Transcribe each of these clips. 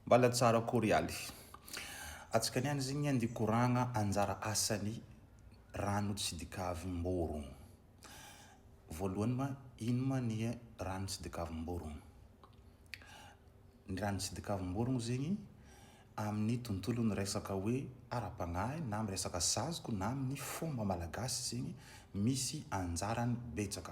Mbala tsara akory aly. Atsika niany izy igny andy koragna anjara asany rano tsy dikavim-borogno. Voalohany ma ino ma ny rano tsy dikavim-borogno? Ny rano tsy dikavim-borogno zegny amin'ny tontolon'ny resaka hoe ara-pagnahy na amin'ny resaka saziko na amin'ny fomba malagasy zegny misy anjarany betsaka.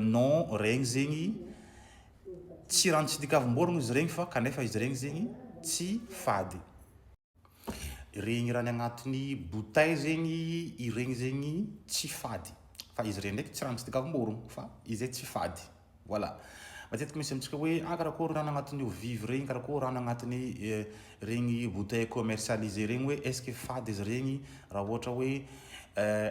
Non, regny zegny tsy raha tsy dikavim-borogno izy regny fa kanefa izy regny zegny tsy fady. Regny raha ny agnatin'ny bouteille zegny, iregny zegny tsy fady. Fa izy iregny ndraiky tsy raha tsy dikavim-borogno fa izy tsy fady. Voilà. Matetika misy amintsika hoe ah karakôry rano agnatin'ny eau vive regny, karakôry rano agnatin'ny regny bouteille commercialisée regny hoe est-ce que fady izy regny raha ohatra hoe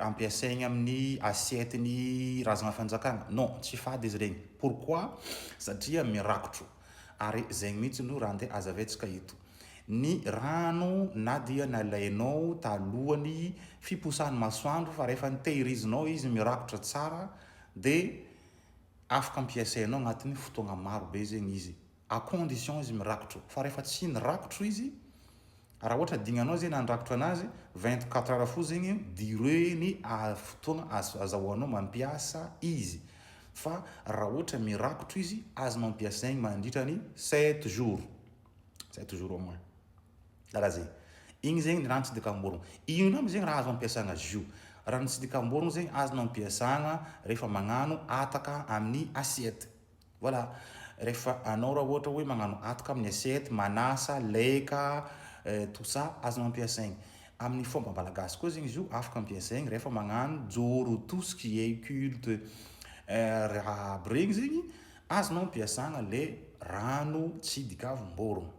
ampiasaigny amin'ny assiette-n'ny Razana Fanjakana? Non, tsy fady izy regny. Pourquoi? Satria mirakotro. Ary zegny mihitsy no raha andeha hazavaintsika eto. Ny rano na dia nalainao talohan'ny fiposahan'ny masoandro fa rehefa nitehirizinao izy mirakotra tsara dia Afaka ampiasainao agnatin'ny fotoagna maro be zegny izy à condition izy mirakotro fa rehefa tsy nirakotro izy raha ohatra adignanao zay nandrakotra anazy vingt quatre heures fo zegny durée ny fotoagna azahoanao mampiasa izy fa raha ohatra mirakotro izy azo mampiasaigny mandritra ny sept jours sept jours au moins Karaha zay. Igny zegny ny rano tsy dikamborogno. Inona aby zegny raha azo ampiasagna zio? Rano tsy dikamborogno zegny azonao ampiasagna rehefa magnano ataka amin'ny assiette. Voilà. Rehefa anao raha ohatra hoe magnano ataka amin'ny assiette, manasa, laika, tout ça, azonao ampiasaigny. Amin'ny fomba malagasy koa zegny zio afaka ampiasaigny rehefa magnano joro, tout ce qui est culte, raha aby regny zegny azonao ampiasagna le rano tsy dikavomborogno.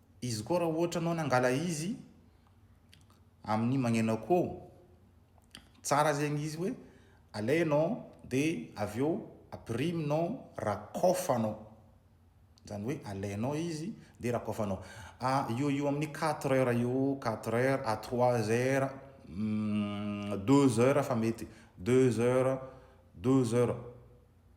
Izy koa raha ohatra anao nangala izy amin'ny magneno akoho, tsara zegny izy hoe alainao dia avy eo apiriminao, rakofanao. Zany hoe alainao izy dia rakofanao. Eo ho eo amin'ny quatre heures eo, quatre heures à trois heures, deux heures fa mety, deux heures, douze heures.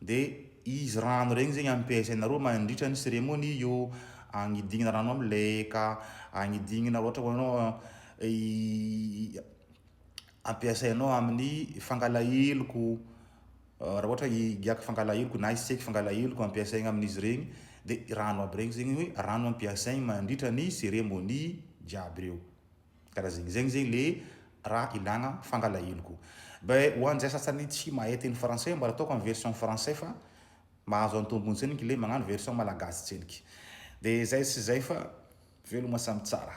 de izy rano regny zegny ampiasaina reo mandritra ny seremony io agnidignana rano am leka agnidignana ohatra hoe anao ampiasainao amin'ny fangala heloko raha ohatra hoe higiaka fangala heloko na hiseky fangala heloko ampiasaina amin'izy regny de rano aby regny zegny hoe rano ampiasaina mandritra ny seremony jiaby reo Kara zegny zegny zegny le raha ilagna fangalahelo ko. Be ho an'zay sasany tsy mahay teny français mba ataoko am version français fa mahazo an tombony tseniky le magnano version malagasy tseniky. De zay sy zay fa veloma samy tsara.